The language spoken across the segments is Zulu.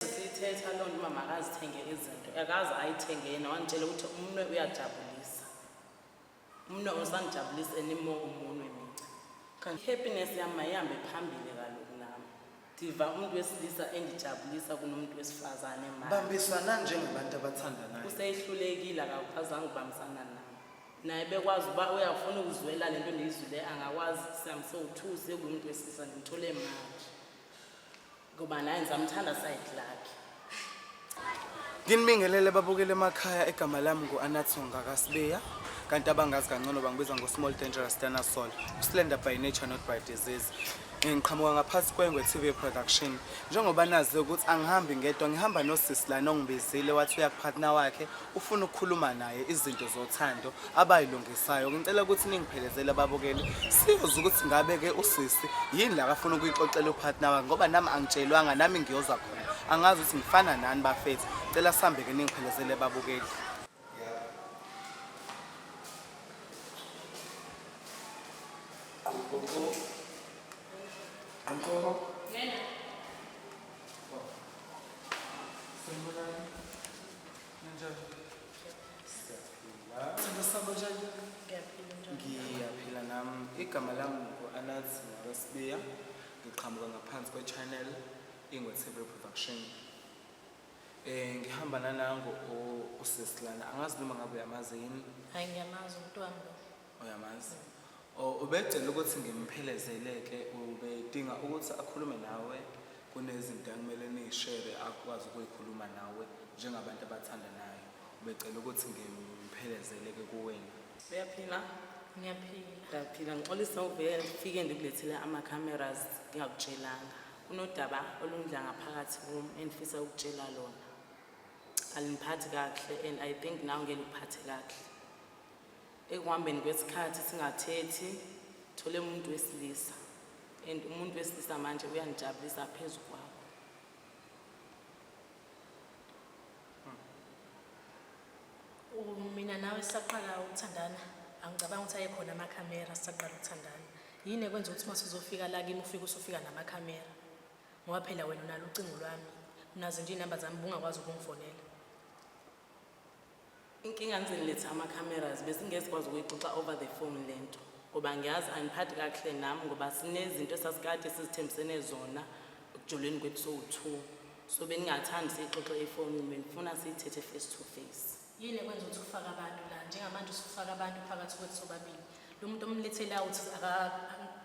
sithetha loo nto uba makazithenge izinto akaze ayithenge yena wanditshela ukuthi umnwe uyajabulisa umnwe usandijabulisa enimo umunwe mica i-happiness yam mayihambe phambili kaloku nam ndiva umntu wesilisa endijabulisa kunomntu wesifazane ma bambisana njengabantu abathandanayo useyihlulekile akakhazanga ubambisana nam naye bekwazi uba uyafuna ukuzwela le nto ndiyizwile angakwazi sam so-two sekungumntu wesilisa ndimthole manje ngoba naye ngisamthanda side lakhe nginibingelele babukele emakhaya egama lami ngu-anathonga kasibeya kanti abangazi kangcono bangibiza ngo-small dangerous dinosaur uslender by nature not by disease ngiqhamuka ngaphansi kwengwe TV production njengoba nazi ukuthi angihambi ngedwa ngihamba nosisi lana ongibizile wathi uyakuphathina wakhe ufuna ukukhuluma naye izinto zothando abayilungisayo ngicela ukuthi ningiphelezele ababukeli siyoze ukuthi ngabe-ke usisi yini la kafuna ukuyixoxela upartner wakhe ngoba nami angitshelwanga nami ngiyoza khona angazi ukuthi ngifana nani bafethu cela sihambe-ke ningiphelezele ababukeli ngiyaphila nam igama lam ngu-anath ngabasibiya ngiqhamuka ngaphansi kwe-channel ingwethebele production um ngihamba nanango usesilana angazi noma ngabe uyamazi yini hayi ngiyamazi umntwana uyamazi O- ubecela ukuthi ngimphelezele-ke ubedinga ukuthi akhulume nawe kunezinto akumele niyishere akwazi ukuyikhuluma nawe njengabantu abathandanayo ubecela ukuthi ngimphelezele-ke kuwena uyaphila ngiyaphila ngiyaphila ngixolisa uvele ngifike ndikulethele ama-cameras ngingakutshelanga kunodaba olundla ngaphakathi kum endifisa ukutshela lona alindiphathi kakuhle and i think nawe ngeke likuphathe kakuhle Ekuhambeni kwesikhathi singathethi thole umuntu wesilisa and umuntu wesilisa manje uyangijabulisa phezu kwakho. U- Mina nawe sisaqala ukuthandana angicabanga ukuthi ayekhona amakhamera sisaqala ukuthandana. Yini ekwenza ukuthi uma sizofika la kimi ufike usufika namakhamera? Ngoba phela wena unalo ucingo lwami. Unazo nje iy'namba zami bungakwazi ukungifonela. Inkinga niziniletha ama-cameras besingezikwazi ukuyixoxa over the phone le nto ngoba ngiyazi angiphathi kakuhle nami ngoba sinezinto esasikade sizithembisene zona ekujoleni kwethu sowu-two so beningathandi siyixoxe efonini benifuna siyithethe face to face yini ekwenza ukuthi ufake abantu la njengamanje usufaka abantu phakathi kwethu sobabili lo muntu omlethela uthi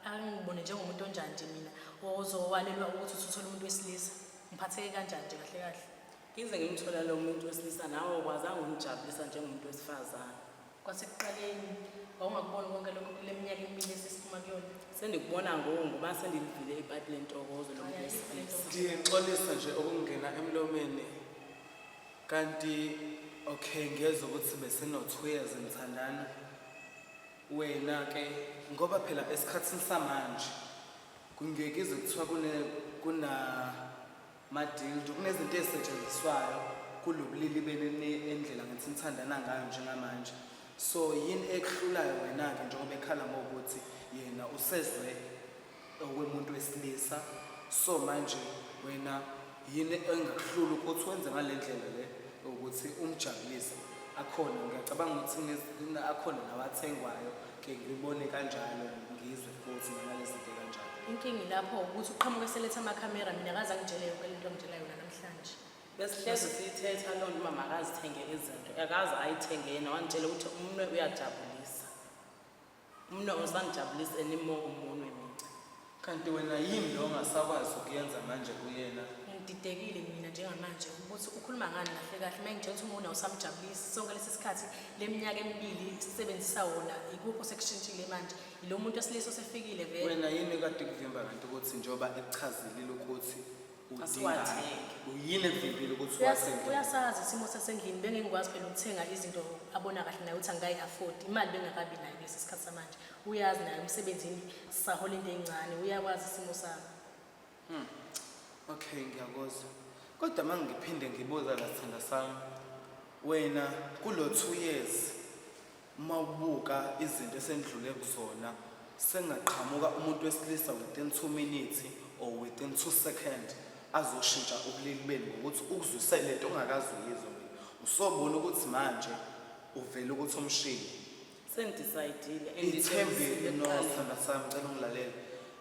angibone njengomuntu onjani nje mina ozowalelwa ukuthi usuthole umuntu wesilisa ngiphatheke kanjani nje kahle kahle Ngize ngimthola lo muntu wesilisa nawe ukwazanga ukumjabulisa njengomuntu wesifazane. Kwasekuqaleni wawungakuboni konke lokho kule minyaka emibili esesiphuma kuyona. Sendikubona ngoku ngoba sendilivile ipayipi lentokozo lo muntu wesilisa. Ndixolisa nje ukungena emlomeni kanti okay ngiyezwa ukuthi besino-two years ngithandana wena ke ngoba phela esikhathini samanje kungekize kuthiwa kune kuna Madildo, kunezinto ezisetshenziswayo kulo bulili benu ene- endlela ngithi nithandana ngayo njengamanje. So yini ekuhlulayo wena-ke njengoba ekhala ngokuthi yena usezwe okwemuntu wesilisa. So manje wena yini engakuhlula ukuthi wenze ngale ndlela le ukuthi umjabulise? Akhona, ngiyacabanga ukuthi kunez- kune- akhona nawathengwayo ngibone kanjalo ngizwe futhi nalalezinto kanjalo inkinga ilapho ukuthi uqhamuka eseletha amakhamera mina akaze angitshele yonke le nto angitshela yona namhlanje besihlezi siyithetha loo nto uba makazithenge izinto akaze ayithenge yena wangitshela ukuthi umnwe uyajabulisa umnwe usangijabulisa anymore umunwe mina Kanti wena yini lo ongasakwazi ukuyenza manje kuyena? Ngididekile mina njengamanje ukuthi ukhuluma ngani kahle kahle uma ngitshela ukuthi umuna usamjabulisi sonke lesi sikhathi le minyaka emibili sisebenzisa wona ikuphi osekushintshile manje yilo muntu wesilisa osefikile vele Wena yini kade kuvimba kanti ukuthi njengoba ekuchazelile ukuthi udinga Asiwathenge. uyini evimbile ukuthi Uyas- uwathenge? uyasazi isimo sasendlini bengingikwazi phela ukuthenga izinto abona kahle naye ukuthi angikayi-afford imali bengakabi nayo kulesi sikhathi samanje uyazi naye umsebenzini sisahola into encane uyakwazi isimo sami Hmm. Okay, ngiyakuzwa. Kodwa uma ngiphinde ngibuza la sithanda sami, wena kulo two years uma ubuka izinto esendlule kuzona sengaqhamuka umuntu wesilisa within two minutes or within two second azoshintsha ubulili benu ngokuthi ukuzwise le nto ongakazi uyizwa wena. Usobona ukuthi manje uvele ukuthi umshini sendisaydile ithembile nosithanda sami cela ungilalele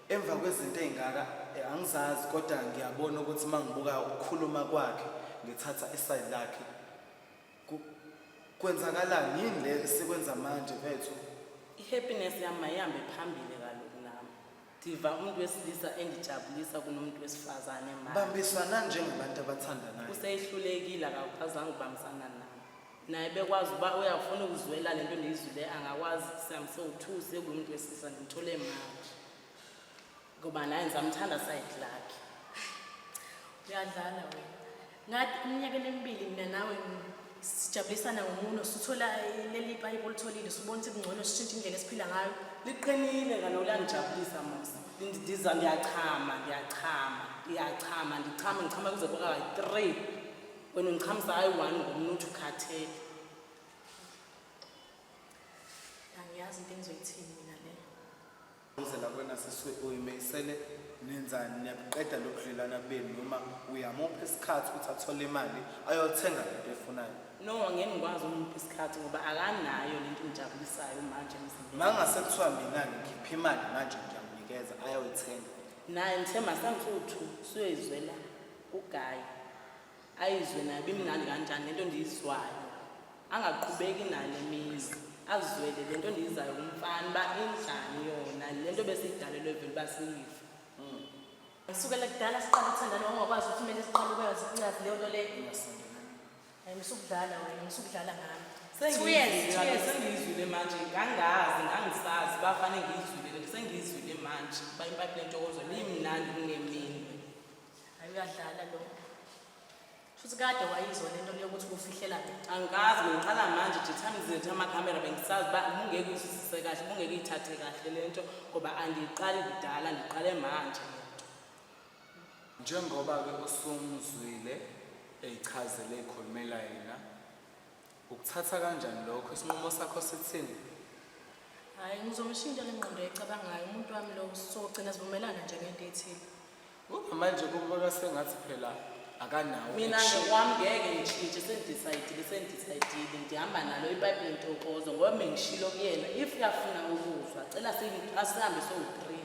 emva kwezinto ey'ngaka eh, angizazi kodwa ngiyabona ukuthi uma ngibuka ukukhuluma kwakhe ngithatha isayidi lakhe kwenzakalani yini le esikwenza manje bethu i-happiness yami mayihambe phambili Diva umuntu wesilisa engijabulisa kunomuntu wesifazane manje. Bambisana njengabantu abathandanayo. Useyihlulekile akakwazanga ukubambisana naye. Naye bekwazi uba uyafuna ukuzwela le nto ndiyizwile angakwazi sihambise u-two sekuwumuntu wesilisa ndimthole manje. Ngoba naye ndizamthanda side lakhe. Uyadlala wena. ngathi eminyakeni emibili mina nawe sijabulisana ngomuno sithola leli payipi olitholile sibona ukuthi kungcono sishintshe indlela esiphila ngayo liqinile kaloku langijabulisa mos ndiza ngiyachama ngiyachama ngiyachama ndichama ngichama kuze kwaka three wena ungichamisa hayi one ngomntu uthi ukhathele angiyazi into engizoyithini mina leyo Uzela kwena siswe uyimisele nenzani niyabuqeda lobudlelwana benu noma uyamupha isikhathi ukuthi athole imali ayothenga lento efunayo no ngeke ngikwazi umuntu isikhathi ngoba akanayo lento engijabulisayo manje emzimbeni mangase kuthiwa mina ngikhipha imali manje ngiyamunikeza ayoyithenga naye ngithe masangithi uthu suyoyizwela kugayi ayizwe nayo bimnandi kanjani lento ndiyizwayo angaqhubeki nale mizi azwele le nto ndiyizayo kumfana uba injani yona le nto besiyidalelwe vele uba siyive ngisukela kudala siqala ukuthandana wangakwazi ukuthi kumele siqale ukwazi ukuncazi leyo nto leyo hayi ngisukudlala wena ngisukudlala ngami sengiyizwile manje ngangazi ngangisazi bafane ngiyizwile lento sengiyizwile manje uba impaphi lentokozo liyimnandi kungemini Hayi uyadlala lo. Futhi kade wayizwa lento yokuthi kufihlela mina. Angikazi ngiqala manje nje time zethu amakhamera bengisazi uba ubungeke uyizwisise kahle ubungeke uyithathe kahle le nto ngoba andiyiqali kudala ndiqale manje le nto njengoba-ke usumzwile eyichazele eyikhulumela yena Ukuthatha kanjani lokho? Isinqumo sakho sithini? Hhayi, ngizomshintsha le ngqondo ecabangayo umuntu wami lo sogcina sivumelana nje ngento ethile. Ngoba manje kubonwa sengathi phela akanawo. Mina action. ngokwami ngeke ngishintshe sengidecayidile sengidecayidile ngihamba nalo ipayipi lentokozo ngoba bengishilo kuyena if uyafuna ukuzwa cela siyi- asihambe sowu-three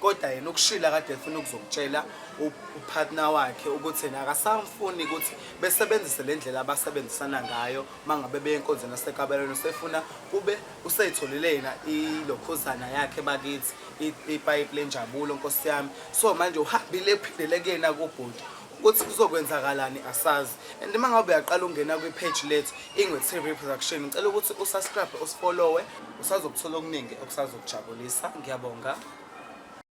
kodwa yena ukushila kade efuna ukuzokutshela upartner wakhe ukuthi yena akasamfuni ukuthi besebenzise le ndlela abasebenzisana ngayo uma ngabe beye enkonzweni yasekabelweni usefuna kube useyitholile yena ilokhuzana yakhe bakithi ipayipi lenjabulo nkosi yami so manje uhambile ephindele kuyena kubhuti ukuthi kuzokwenzakalani asazi and uma ngabe uyaqala ungena kwi-page lethu ingwe-tv production ngicela ukuthi usubscribe usifolowe usazokuthola okuningi okusazokujabulisa ngiyabonga